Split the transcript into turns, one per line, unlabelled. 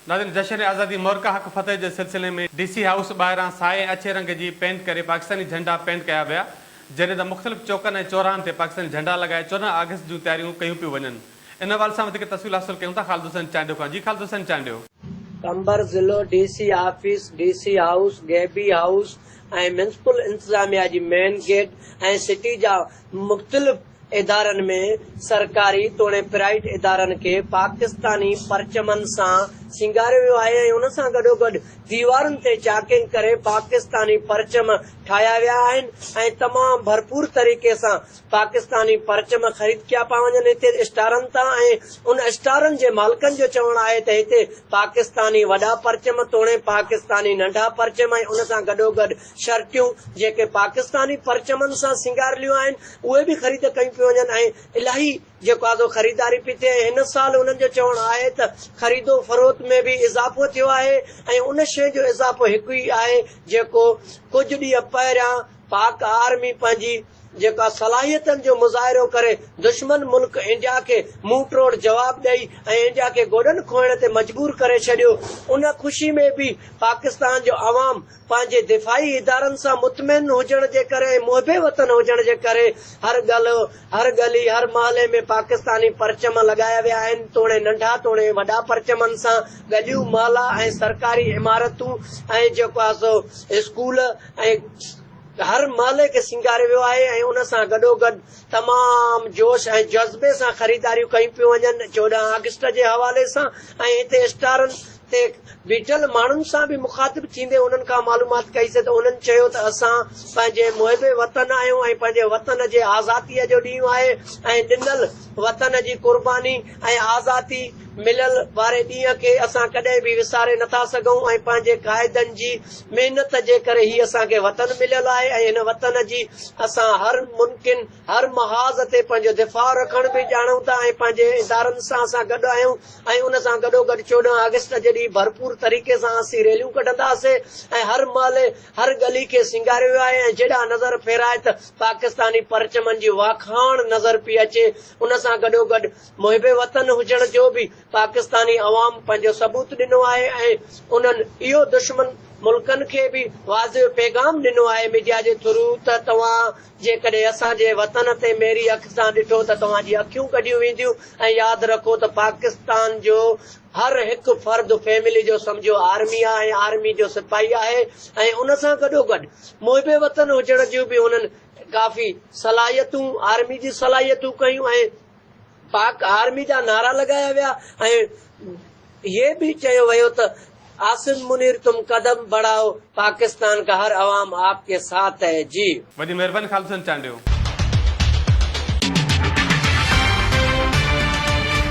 ناظرين جشن آزادي مورڪا حق فتح جي سلسلي ۾ ڊي سي هائوس ٻاهران سائي ۽ اڇي رنگ جي پينٽ ڪري پاڪستاني جهنڊا پينٽ ڪيا ويا جڏهن ته مختلف چوڪن ۽ چوراهن تي پاڪستاني جهنڊا لڳائي چوڏهن آگسٽ جون تياريون ڪيون پيون وڃن ان حوالي سان وڌيڪ تفصيل حاصل ڪيون ٿا خالد حسين چانڊيو کان جي خالد حسين چانڊيو. قمبر
ضلعو D C office, D C house, گيبي هائوس ۽ ميونسپل انتظاميا جي مين گيٽ ۽ سٽي جا مختلف ادارن ۾ سرڪاري توڻي پرائيٽ ادارن کي پاڪستاني پرچمن سان سينگاريو ويو آهي ۽ ان سان گڏوگڏ ديوارن تي چاڪنگ ڪري پاڪستاني پرچم ٺاهيا ويا آهن ۽ تمام ڀرپور طريقي سان پاڪستاني پرچم خريد ڪيا پيا وڃن هتي اسٽارن تان ۽ ان اسٽارن جي مالڪن جو چوڻ آهي ته هتي پاڪستاني وڏا پرچم توڻي پاڪستاني ننڍا پرچم ۽ ان سان گڏوگڏ شرٽيون جيڪي پاڪستاني پرچمن سان سينگاريليون آهن اهي به خريد ڪيون پيون وڃن ۽ الاهي جيڪو آهي سو خريداري پئي ٿئي ۽ هن سال انهن جو چوڻ آهي ته خريد و فروخت ۾ به اضافو ٿيو آهي ۽ ان شيء جو اضافو هڪ ئي آهي جيڪو ڪجهه ڏينهن پهريان پاڪ آرمي پنهنجي جيڪو آهي صلاحيتن جو مظاهرو ڪري دشمن ملڪ انڊيا کي منهن ٽوڙ جواب ڏئي ۽ انڊيا کي گوڏن کوهڻ تي مجبور ڪري ڇڏيو ان خوشي ۾ به پاڪستان جو عوام پنهنجي دفاعي ادارن سان مطمئن هجڻ جي ڪري ۽ محب وطن هجڻ جي ڪري هر گل، هر ڳلي، هر محلي ۾ پاڪستاني پرچم لڳايا ويا آهن، توڻي ننڍا توڻي وڏا پرچمن سان ڳليون، محلا ۽ سرڪاري عمارتون ۽ جيڪو آهي سو اسڪول ۽ هر محلي کي سينگاريو ويو آهي ۽ ان سان گڏوگڏ تمام جوش ۽ جذبي سان خريداريون ڪيون پيون وڃن چوڏهن آگسٽ جي حوالي سان ۽ هتي اسٽارن تي بيٺل ماڻهن سان به مخاطب ٿيندي انهن کان معلومات ڪئي سي ته انهن چيو ته اسان پنهنجي محب وطن آهيون ۽ پنهنجي وطن جي آزاتي جو ڏينهن آهي ۽ ڏنل وطن جي قرباني ۽ آزاتي ملل واري ڏينهن کي اسان ڪڏهن به وساري نٿا سگهون ۽ پنهنجي قائدن جي محنت جي ڪري هي اسان کي وطن مليل آهي ۽ هن وطن جي اسان هر ممڪن هر محاذ تي پنهنجو دفاع رکڻ به ڄاڻون ٿا ۽ پنهنجي ادارن سان اسان گڏ آهيون ۽ ان سان گڏوگڏ چوڏهن آگسٽ جڏهن ڀرپور طريقي سان اسين ريليون ڪڍنداسين ۽ هر محلي، هر ڳلي کي سينگاريو ويو آهي ۽ جيڏانهن نظر ڦيرائي ته پاڪستاني پرچمن جي واکاڻ نظر پئي اچي، ان سان گڏوگڏ محب وطن هجڻ جو به پاڪستاني عوام پنهنجو ثبوت ڏنو آهي ۽ انهن اهو دشمن ملڪن کي به واضح پيغام ڏنو آهي ميڊيا جي ٿرو ته توهان. جيڪڏهن اسان جي وطن تي ميري اک سان ڏٺو ته توهان جي اکيون ڪڍيون وينديون ۽ ياد رکو ته پاڪستان جو هر هڪ فرد فيملي جو سمجهو آرمي آ ۽ آرمي جو سپاهي آهي ۽ ان سان گڏو گڏ محب وطن هجڻ جون به هنن ڪافي صلاحيتون آرمي جي صلاحيتون ڪيون ۽ پاڪ آرمي جا نعرا لڳايا ويا ۽ هي به چيو ويو ته عاصم منير تم قدم بڙهائو پاڪستان
ڪا هر
عوام
آپ ڪي
ساٿ
هي
جي.
وڏي
مهرباني خالد حسين
چانڊيو.